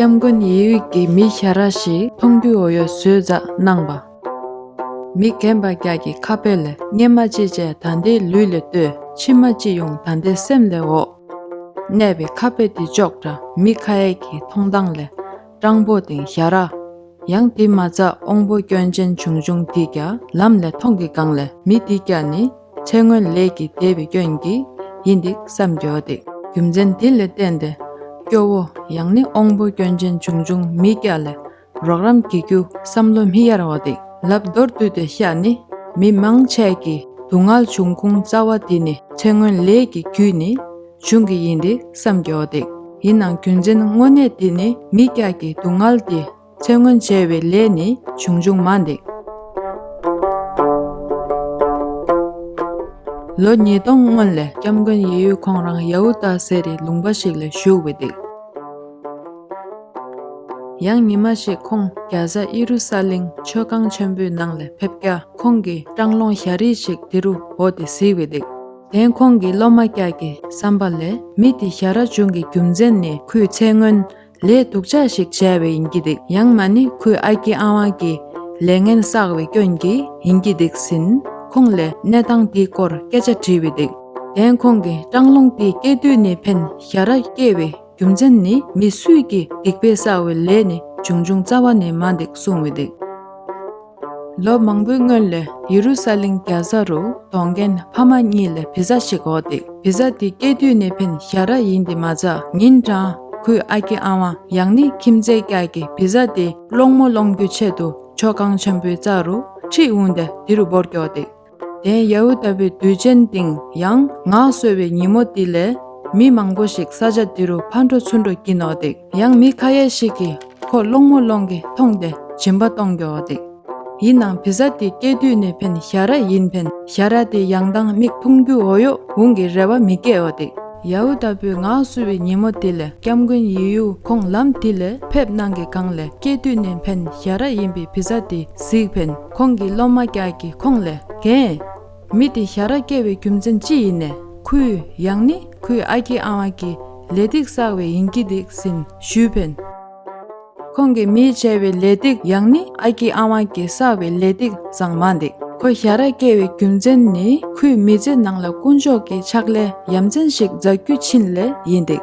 སྐྱབས་མགོན་ཡེ་དབྱིག་གིས་མི་ཤ་ར་ཞིག་མཐོང་དུས་འོ་ཡོ་ཟོས་རྫ་གནང་བ། མི་རྒན་པ་བརྒྱག་གི་ཁ་དཔེ་ལས་སྙན་མ་ཅི་བྱས་ད་ལྟའི་ལུས་ལས་ལྟོས་ཕྱི་མ་ཅི་ཡོང་ད་ལྟའི་སེམས་ལས་འོག་གནས་པའི་ཁ་དཔེ་འདི་ཅོག་འདྲ་མི་ཁ་ཡེག་གི་མཐོང་སྟངས་ལས་སྤྲང་པོ་དེང་ཞྭ་ར། ཡང་དེ་མ་ཚ་འོང་པོ་སྐྱོན་ཅན་བྱུང་བྱུང་དེས་ཀྱ་ལམ་ལས་མཐོང་གི་སྒང་ལས་མི་དེས་ཀྱ་ནི་ཚེ་སྔོན་ལས་ཀྱི་དད་པའི་སྐྱོན་གྱིས་ཡིན་འདི་བསམ་གྱ་འདི། རྒྱུ་མཚན་དེ་ལས་བསྟན་ཏེ། སྐྱོ་བོ་ཡང་ནི་འོང་པོ་སྐྱོན་ཅན་བྱུང་བྱུང་མི་ཀྱ་ལས་རོགས་རམ་གྱི་རྒྱུ་བསམ་བློ་མི་གཡར་བ་འདི་ལབ་མདོར་བསྡུས་ཏེ་ཤ་ནི། མི་མང་ཆས་ཀྱི་སྡུག་བསྔལ་བྱུང་ཁུང་རྩ་བ་དེ་ནི་ཚེ་སྔོན་ལས་ཀྱི་རྒྱུས་ནི། བྱུང་གི་ཡིན་ཏེ་སམ་མགྱོགས་ཏེ། ཡིན་ནང་རྒྱུ་མཚན་དངོས་གནས་དེ་ནི་མི་སྐྱག་གི་སྡུག་བསྔལ་དེ་ཚེ་སྔོན་བྱས་བའི་ལས་ནི་བྱུང་བྱུང་མ་འདེགས། ལོ་ཉིས་སྟོང་སྔོན་ལས་སྐྱབས་མགོན་ཡེ་ཡོད་ཁོང་རང་ཡ་ཧུ་དཱ་ཟེར་རི་ལུང་པ་ཞིག་ལ་བཞུགས་བས་འདེགས། ཡང་ཉི་མ་ཞིག་ཁོང་རྒྱ་བཟའ་ཨི་རུ་ས་ལིང་མཆོད་ཁང་ཆེན་པོའི་ནང་ལ་ཕེབས་སྐྱ་ཁོང་གིས་སྤྲང་ལོང་ཞྭ་རིལ་ཞིག་དེ་རུ་བོ་སྟེ་བཟི་བས་འདེགས། དེང་ཁོང་གི་སློབ་མ་སྐྱག་གི་བསམ་པ་ལས་མི་དེ་ཞྭ་ར་ཆུང་གི་རྒྱུ་མཚན་ནི་ཁོས་ཚེ་སྔོན་ལས་སྡུག་ཅག་ཞིག་བྱས་པས་ཡིན་གྱི་འདུག་ཡང་མ་ནི་ཁོའི་ཨ་ཁྱི་ཨ་ཝང་གིས་ལས་ངན་བསགས་པའི་སྐྱོན་གྱིས་ཡིན་གྱི་འདུག་ཟིན་ཁོང་ལས་གནས་སྟངས་དེའི་སྐོར་སྐད་ཆ་དྲིས་པས་འདུག་དེང་ཁོང་གིས་སྤྲང་རླུང་དེ་སྐྱེས་དུས་ནས་ཕན་ཞྭ་ར་སྐྱེས་པའི་རྒྱུ་མཚན་ནི་མི་སུས་ཀྱིས་སྡིག་པའི་བསགས་པའི་ལས་ནི་ཅུང་ཅུང་རྩ་བ་ནས་མ་འདུག་གསུངས་བས་འདུག། ལོ་མང་པོའི་སྔོན་ལ་ཡེ་རུ་སཱ་ལེམ་རྒྱ་བཟའ་རུ་གདོང་རྒན་ཕ་མ་གཉིས་ལ་བི་ཟ་ཞིག་འོག་འདེགས་བི་ཟ་དེ་སྐྱེས་དུས་ནས་ཕན་བཞག་ར་ཡིན་ཏེ་མ་ཚ་ཉིན་གྲངས་ཁོའི་ཨ་ཁྱི་ཨ་ཝང་ཡང་ནི་ཁྱིམ་མཚེས་སྐྱ་ཀྱི་བི་ཟ་དེ་སློང་མོ་སློང་རྒྱུའི་ཆེད་དུ་མཆོད་ཁང་ཆེན་པོའི་རྩ་རུ་ཁྲིད་འོངས་ཏེ་དེ་རུ་སྦོར་སྐྱོགས་འདེགས། དེ་ཡ་ཝཱེ་ལྟ་བུའི་དུས་ཆེན་སྟེང་ཡང་ངག་གསོལ་བའི་ཉིན་མོ་དེ་ལས། མི་མང་པོ་ཞིག་ས་ཆ་དེ་རུ་ཕར་འགྲོ་ཚུར་འགྲོ་བགྱིད་ནོ་འདུག་ཡང་མི་ཁ་ཡས་ཤིག་གིས་ཁོ་སློང་མོ་སློང་གི་མཐོང་སྟེ་བྱིན་པ་གཏོང་གི་འོ་འདུག་ཡིན་ནང་བི་ཟ་དེ་སྐྱེས་དུས་ནས་ཕན་ཞྭ་ར་ཡིན་ཕན་ཞྭ་ར་དེ་ཡང་སྡང་མིག་འཐུང་རྒྱུ་འོ་ཡོག་འུང་གི་རེ་བ་མི་སྐྱེ་འོ་འདུག། ཡ་ཝཱེ་ལྟ་བུའི་ངག་གསོལ་བའི་ཉིན་མོ་དེ་ལས་སྐྱབས་མགོན་ཡེ་ཡུ་ཁོང་ལམ་དེ་ལས་ཕེབས་གནང་གི་གང་ལས་སྐྱེས་དུས་ནས་ཕན་ཞྭ་ར་ཡིན་པའི་བི་ཟ་དེ་གཟིགས་ཕན། ཁོང་གི་སློབ་མ་སྐྱག་གིས་ཁོང་ལས་རྒན། མི་དེ་ཞྭ་ར་སྐྱེལ་བའི་རྒྱུ་མཚན་ཅི་ཡིན་ནས་ཁོའི་ཡང་ནི་ཁོའི་ཨ་ཁྱི་ཨ་ཝང་གི་ལས་སྟེགས་བསགས་བས་ཡིན་གྱི་འདུག་ཟིན་ཞུས་བན། ཁོང་གི་མིས་བྱས་བའི་ལས་སྟེགས་ཡང་ནི་ཨ་ཁྱི་ཨ་ཝང་གིས་བསགས་བའི་ལས་སྟེགས་བཟང་མ་འདུག་ཁོ་ཞྭ་ར་སྐྱེལ་བའི་རྒྱུ་མཚན་ནི་ཁོའི་མི་ཚེ་ནང་ལ་དཀོན་མཆོག་གི་ཕྱག་ལས་ཡ་མཚན་ཞིག་མཛད་རྒྱུ་ཕྱིན་ལས་ཡིན་འདུག།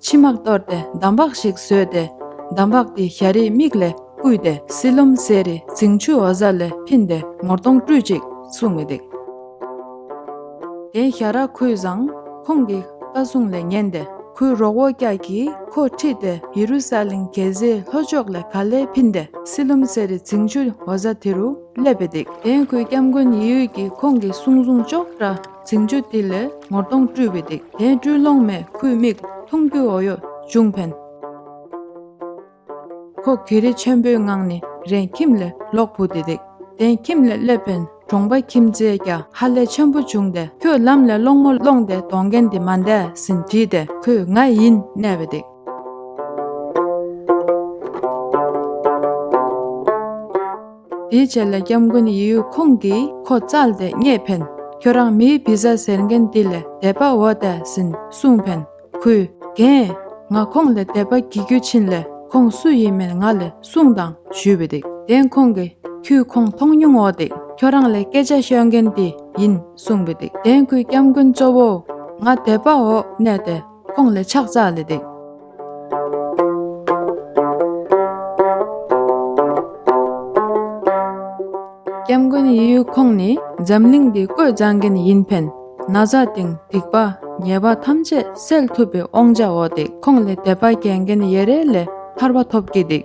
མཆི་མ་གཏོར་ཏེ་འདམ་བག་ཞིག་བཟོས་ཏེ། འདམ་བག་དེ་ཞྭ་རེའི་མིག་ལས་བརྐུས་ཏེ་བསིལ་ལུམ་བཟས་རི་རྫིང་ཆུ་བོ་གཟར་ལས་ཕིན་ཏེ་ངོར་སྟོང་བཀྲུས་ཅིག་གསུངས་མི་བདེགས། དེས་ཞྭ་ར་ཁོའི་བཟང། ཁོང་གི་བཀའ་གསུང་ལས་ཉན་ཏེ་ཁོའི་རོགས་བོ་སྐྱག་གིས་ཁོ་ཁྲིད་དེ་ཡེ་རུ་སཱ་ལིང་གེ་ཟའི་ལྷོ་ཕྱོགས་ལས་ག་ལས་ཕིན་ཏེ་བསིལ་ལུམ་བཟས་རི་རྫིང་ཆུ་བོ་གཟར་དེ་རུ་སླེབས་པས་བདེགས། དེས་ཁོའི་སྐྱབས་མགོན་ཡེ་ཡོད་ཀྱིས་ཁོང་གི་གསུང་བཟུང་ཅོག་ར། ཚིག་མཇུག་འདི་ལས་ངོར་གདོང་བཀྲུས་པའི་སྡིག་དེས་སྤྲུལ་ལོང་མས་ཁུའི་མིག་འཐུང་རྒྱུའི་འོ་ཡོ་ཅུང་ཕན། ཁོ་གྷི་རི་ཆེན་པོའི་ངང་ནས་རེན་ཁྱིམ་ལས་ལོག་བུ་དེ་སྡིག་དེས་ཁྱིམ་ལས་སླེབས་ཕན་གྲོང་པ་ཁྱིམ་མཚེས་རྒྱ་ཧ་ལས་ཆེན་པོ་བྱུང་སྟེ་ཁྱོད་ལམ་ལས་སློང་མོ་སློང་སྟེ་གདོང་རྒན་འདི་མ་འདས་ཟིན་དྲིས་ཏེ་ཁོས་ང་ཡིན་གནས་པའི་སྡིག། དེའི་ཆེད་ལས་སྐྱབས་མགོན་ཡེ་ཡུལ་ཁོང་གིས་ཁོ་བཙལ་ཏེ་རྙེད་ཕན། ཁྱོད་རང་མིའི་བི་ཟ་ཟེར་མཁན་དེ་ལས་དད་པ་འོ་དད་ཟིན་གསུངས་ཕན། ཁོས། དེང། ང་ཁོང་ལས་དད་པ་བགྱི་རྒྱུ་ཕྱིན་ལས་ཁོང་སུ་ཡིན་མིན་ང་ལས་གསུངས་དང་ཞུས་པ་འདུག་དེང་ཁོང་གིས་ཁྱོས་ཁོང་མཐོང་མྱོང་འོ་དད་ཁྱོད་རང་ལས་སྐད་ཆ་ཤོད་མཁན་དེ་ཡིན་གསུངས་པ་འདུག་དེང་ཁོས་སྐྱབས་མགོན་གཙོ་བོ། ང་དད་པ་འོ་གནས་ཏེ་ཁོང་ལས་ཕྱག་བཙལ་ལེ་འདུག། སྐྱབས་མགོན་གཡས་གཡོན་ཁོང་ནི་འཛམ་གླིང་འདི་བཀོད་བཟང་མཁན་ཡིན་ཕན་ན་བཟའ་སྟེང་སྡིག་པ་ཉེས་པ་ཐམས་ཅད་སེལ་ཐུབ་པའི་དབང་ཆ་འོག་དེ་ཁོང་ལས་དད་པ་བྱེད་མཁན་ཡེ་རེ་ལས་ཐར་བ་ཐོབ་ཀྱི་འདུག།